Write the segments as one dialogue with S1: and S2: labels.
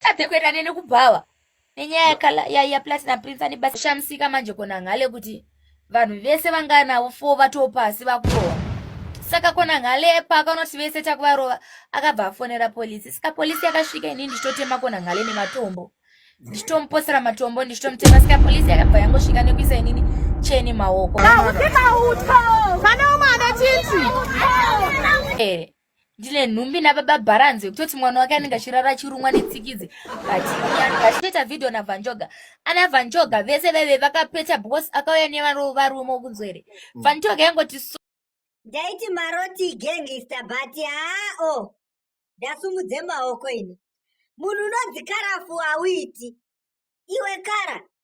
S1: tadze kuenda neni kubhawa nenyaya yaplatinum prince ane basa shamisika manje kona nghale kuti vanhu vese vanganavo fo vatopasi vakurohwa saka kona nghale paakanoti vese takuvarova akabva afonera polisi saka polisi yakasvika ini ndichitotema kona nghale nematombo ndichitomuposera matombo ndichitomutema saka polisi yakabva yangosvika nekuisa inini cheni maoko ah, ndine nhumbi nababa bharanzi yekutoti mwana wake anenge achirara achirumwa netsikidzi vachitoita vhidhiyo navanjoga ana vanjoga vese vaive vakapeta because akauya nevarume wokunzwa here mm. vanjoga yangoti ndaiti
S2: maroti gangista but haa o ndasumudze maoko ini munhu unonzi karafu hauiti iwe kara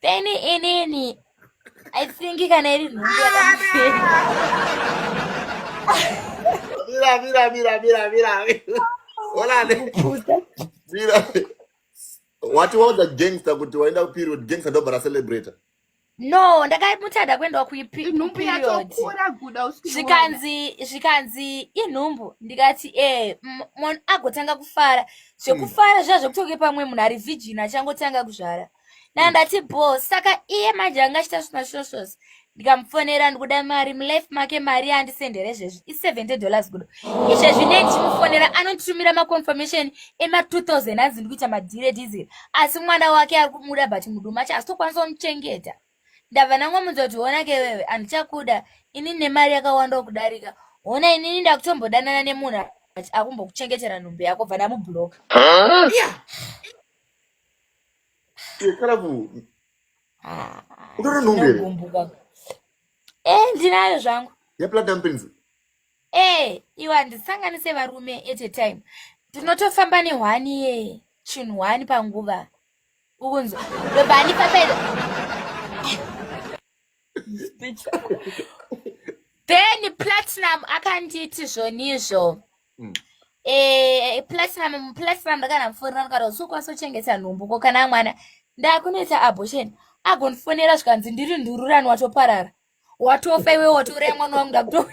S1: Peni inini I think kana iri nhumbu yakamufira.
S3: Mira mira mira mira mira. Hola. Mira. Wati waudza gangster kuti waenda kuperiod gangster ndobva racelebrator. no
S1: ndakamutsada kuendawa kuiperiodvikanzi zvikanzi inhumbu ndikati e eh, munhu agotanga kufara zvekufara zviya zvekutonge pamwe munhu ari vhijini achangotanga kuzvara dana ndati bho saka iye manje anga achita zvimashoshos ndikamufonera ndikuda mari mulife make mari yaandisendere zvezvi i70 dollars kudo izvezvi ne ndichimufonera anonditumira maconfirmation ema2000 anzi ndikuita madhire diesel asi mwana wake ari kumuda but muduma acho asitokwanisa kumuchengeta ndabva nangomunza kuti hona ke wewe andichakuda ini nemari yakawanda wokudarika hona inini ndakutombodanana nemunhu akumbokuchengetera nhumbi yako bva ndamubloka
S3: kana ku ah, utori nhumbi here eh
S1: ndinayo zvangu yeplatinum pins
S3: eh
S1: iwe handisanganise varume at a time ndinotofamba nehwani ye chinhu hwani panguva ukunzwa lobani papedza then platinum akanditi zvonizvo mm. eh, platinum platinum ndakana mufonera ndikati sokwanisa kuchengeta nhumbu ko kana mwana ndakunoita abortion agondifonera zvikanzi ndiri ndururani watoparara watofa iwe watouraya mwana wangu ndakuto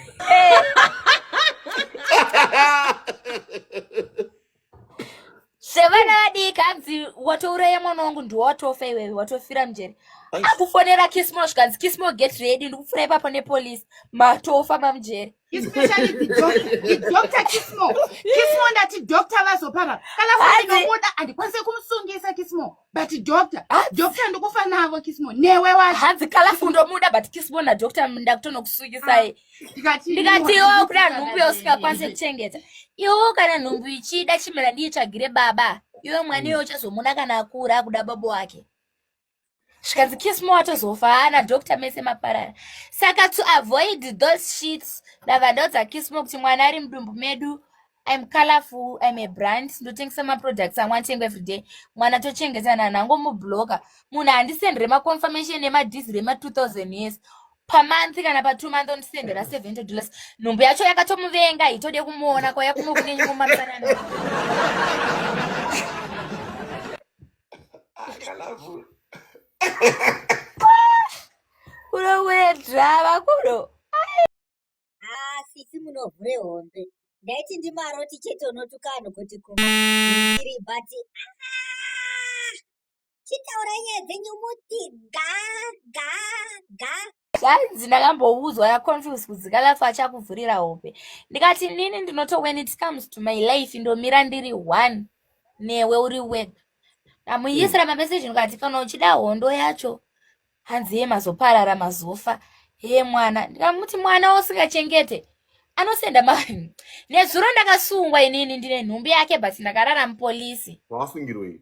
S1: sevana vadiki hanzi watouraya mwana wangu ndiwatofa iwewe watofira mjeri akufonera kismo zvikanzi kismo get ready ndikupfura ipapo nepolice matofa mamjeri especially
S4: the doctor the doctor kismo kismo ndati doctor vazopara kana kuinomuda handikwanise kumusungisa kismo but doctor doctor ndikufa navo kismo newe wacho hanzi kala fundomuda
S1: but kismo nadoctor ndakutonokusungisai ah, ndikati iwo kuda nhumbu yausingakwanise kuchengeta iwo kana nhumbu ichida chimera ndiitsvagire baba iwe mwana iwe uchazomuna kana akura akuda baba wake zvikanzi kismo watozofa haana doctor mese maparara saka to avoid those sheets ndabva ndaudza kismo kuti mwana ari mudumbu medu im colorful im a brand ndotengesa maproducts amwe atengwa everyday mwana tochengetana nango mubloka munhu handisendere maconfirmation emadhizi rema 2000 years pamonth kana patwo month ondisendera 70 dollars nhumbu yacho yakatomuvenga hitode kumuona kwaya kunokunenyi mumasanana Akalavhura. Unowedza vakuru. Ah, sisi
S2: munovhure hombe. Ndaiti ndimaroti chete unotuka vanhu kuti ku iri but ah, chitaura nyaya dzenyu muti ga ga ga zvanzi
S1: ndakamboudzwa yaconfuse kudzika lafu achakuvhurira hope ndikati nini ndinoto when it comes to my life ndomira ndiri one newe uri web ndamuisira mm. mameseji ndikati kana uchida hondo yacho hanzi ye mazoparara mazofa hee mwana ndikamuti mwana usingachengete anosenda ma nezuro ndakasungwa inini ndine nhumbi yake but ndakarara mupolisi wasungirwei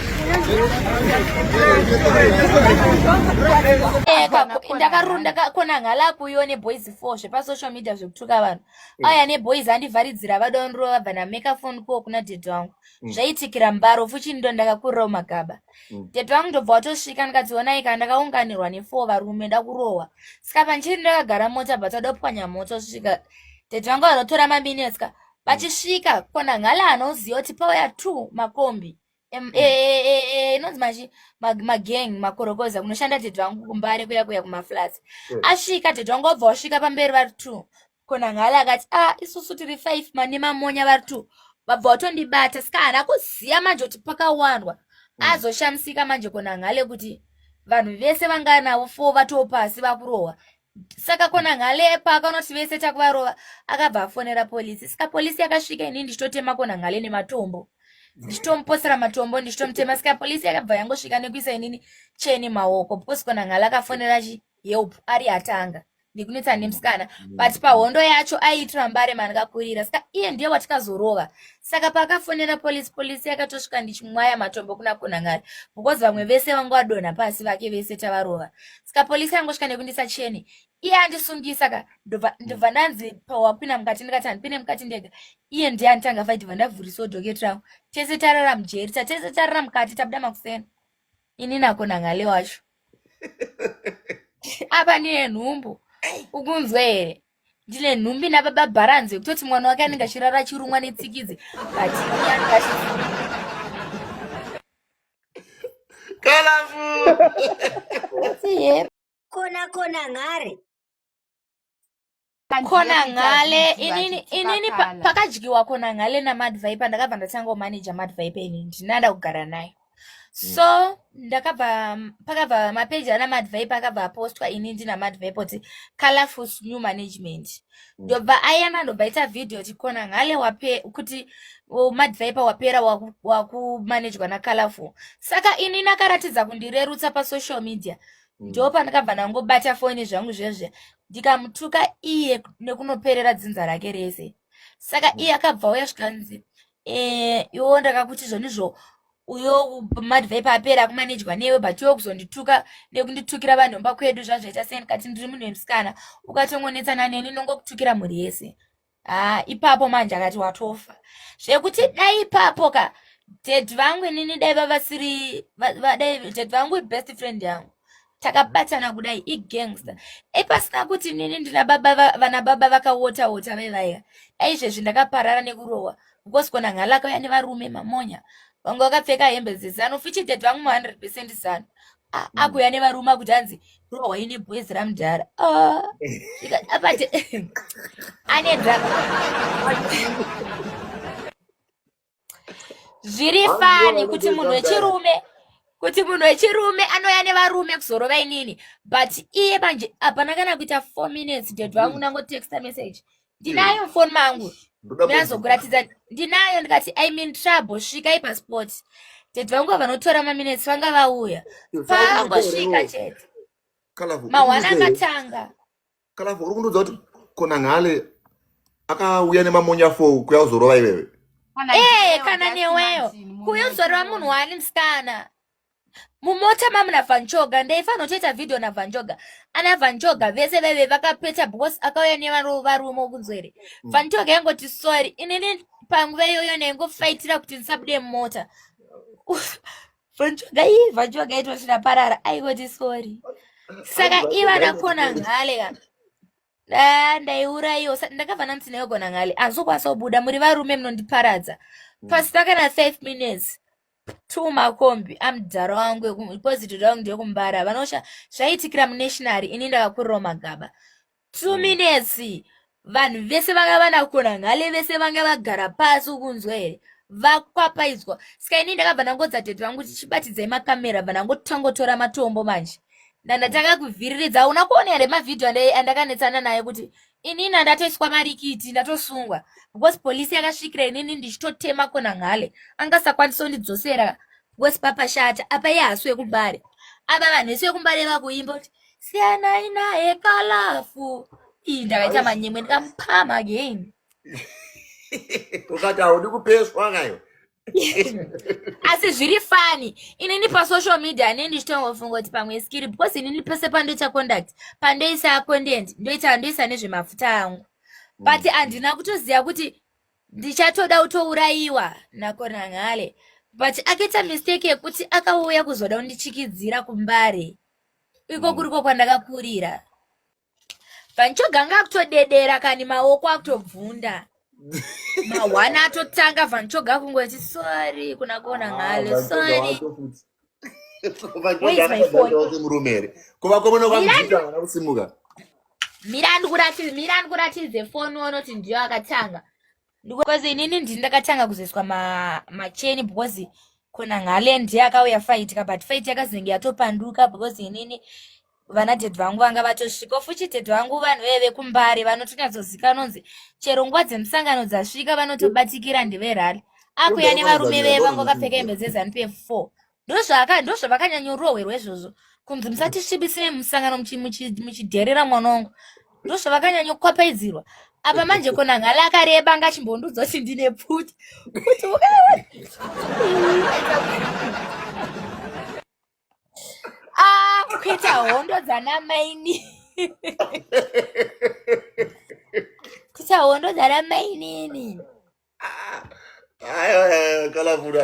S1: ndakarunda kona ngala kuyo neboys four zvepasocial media zvekutuka vanhu mm. aya neboys andivharidzira vada undirova vabva nameka foni kuwo kuna dede wangu mm. zvaitikira mbaro fuchini ndo ndakakurirawo magaba mm. dede wangu ndobva watosvika ndikadzionai kana ndakaunganirwa nefour varume ndakurohwa saka panchiri ndakagara mota but adopwanya moto svika dede vangu vanotora maminetska vachisvika kona ngala anoziva kuti pauya two makombi Em- eh, eh, eh, eh, inonzi machi mag- magang makorokoza kunoshanda tete vangu kumbare kuya kuya kumaflats Mm. asvika tete vangu wabva wasvika pamberi vari two konangale akati ah isusu tiri five mane mamonya vari two vabva watondibata saka haana kuziva manje kuti pakawandwa Mm. azoshamisika manje konangale kuti vanhu vese vanganavo four vatoo pasi vakurohwa saka kona ngale paakanoti vese takuvarova akabva afonera polisi saka polisi yakasvika ini ndichitotema kona ngale nematombo ndichitomuposera matombo ndichitomutema saka polisi yakabva yangosvika nekuisa inini cheni maoko because kona ngale akafonera chi help ari atanga ndikunetsa nemusikana but pahondo yacho aiitira mbare mandikakurira saka iye ndiye watikazorova saka paakafonera polisi polisi yakatosvika ndichimwaya matombo kuna kunangari because vamwe vese vanga vadonha pasi vake vese tavarova ska polisi yangosvika nekundisa chene iye andisungisa ka ndobva ndanzi pawapina mukati ndikati handipine mukati ndega iye ndiye anditanga fight bva ndavhurisawo doket rangu tese tarara mujeri tatese tarara mukati tabuda makusena ini nako nangale wacho apa ndine nhumbu ukunzwe here ndine nhumbi nababa bharanzi yekutoti mwana wake anenge achirara achirumwa netsikidzi but
S2: kona kona ngare
S1: kona ngale inini inini pakadyiwa kona ngale namadvipe ndakabva ndatanga kumanaja madvipe ini ndinada kugara naye mm. so ndakabva pakabva mapeji anamadvipe akabva apostwa ini ndinamadvipe kuti colorful new management ndobva mm. ayana ndobva ita video tikona ngale wape kuti madviper wapera wakumanejwa waku nacolorful saka ini nakaratidza kundirerutsa pasocial media mm. ndo pandakabva ndangobata foni zvangu zvezve ndikamutuka iye nekunoperera dzinza rake rese saka mm. iye akabva uya zvikanzi Eh, iwo ndakakuti izvonizvo uyo madhivha ipa apera akumanejwa newe but iwe kuzondituka nekunditukira vanhomba kwedu zvazvaita sei ndikati ndiri munhu wemusikana ukatongonetsana neni ndongokutukira mhuri yese haa ipapo manje akati watofa zvekuti dai ipapo ka dad vangu inini dai vavasiri dai dad vangu ibest friend yangu takabatana kudai igangster dai pasina kuti nini ndina baba vana baba vakawota wota vevaiva dai izvezvi ndakaparara nekurohwa because kona ngalaka uya nevarume mamonya vanga vakapfeka hembe dzezano fichided vangu ma 100 percent zano mm. akuya nevarume akuti hanzi rohwa ine boys ramudhara ah. apati ane drama zviri fani kuti munhu wechirume kuti munhu wechirume anouya nevarume kuzorova inini but iye manje hapana kana kuita four minutes dad vangu mm. nangotexta message ndinayo mufoni mangu ndinazokuratidza ndinayo ndikati i mean trouble svika ipasport dad vangu vanotora maminutes vanga vauya pangosvika chete mahwana akatanga kana uri
S3: kundiudza kuti kona nhale akauya nemamonya fou kuya uzorova iwewe ee kana
S1: neweyo kuya uzorova munhu waani musikana mumota mamuna vanjoga ndaifanira kutoita vhidhiyo navanjoga ana vanjoga vese vaive vakapeta because akauya nevarume wokunzwere mm. vanjoga yangoti sorry inini panguva iyoyo ndaingofaitira kuti ndisabude mumota Vanjuga iyi vanjuga itoti ndaparara aingoti sorry saka iva ndakona nhale ka ah, ndaiurayiwa ndakabva ndanzi ndaigona nhale hazokwanisa kubuda muri varume munondiparadza mm. pasina kana five minutes two makombi amudhara wangu eposito rangu ndeyekumbara vanosha zvaiitikira munationary ini ndakakurirawo magaba two minutes vanhu vese vanga vanakona ngale vese vanga vagara pasi ukunzwa here vakwapaidzwa ska ini ndakabva ndangodza tete vangu kuti chibatidzai makamera bva ndangotangotora matombo manje ndandatanga kuvhiriridza hauna kuona here mavhidhiyo andakanetsana naye kuti inini andatoiswa marikiti ndatosungwa because polisi yakasvikira inini ndichitotema kona ngale angasakwanisa kundidzosera Wes papa shata apa ye hasu yekumbare apa vanhu vese vekumbare vakuimba kuti siyanai naye kalafu ii ndakaita manyemwe ndikamupama again
S3: ukati haudi kupeswa kayo
S1: asi zviri fani inini pasocial media ane ndichitongofunga kuti pamwe skiri because inini pese pandoita conduct pandoisa content ndoita ndoisa nezvemafuta angu but handina kutoziva kuti ndichatoda kutourayiwa nakonangale but akaita mistake yekuti akauya kuzoda kundichikidzira kumbare iko mm. kuriko kwandakakurira vanchoganga akutodedera kani maoko akutobvunda mahwana atotanga vanchoga kungoti sorry kuna kona ah, ngale sorry
S3: mira
S1: ndikuratidze foni wonoti ndiyo akatanga because inini ndini ndakatanga kuzoiswa macheni because kona ngale ndiye akauya faitika but fait yakazenge yatopanduka because inini vana dhedhi vangu vanga vatosvika futi dhedhi vangu vanhu veye vekumbare vanotonyatsoziva nonzi chero nguva dzemusangano dzasvika vanotobatikira ndeverali akuya nevarume veye vanga vakapfeka hembe dzezanu pf four ndozvavakanyanyorohwerwa izvozvo kunzi musatisvibisire musangano muchidherera mwana wangu ndozvavakanyanyokopaidzirwa apa manje kona ngala akareba anga achimbondudzo kuti ndine pfuti kuti Ah, kuita hondo dzana maini. kuita hondo
S3: dzana
S1: mainini.
S3: Ayo,
S1: ayo, kana mvura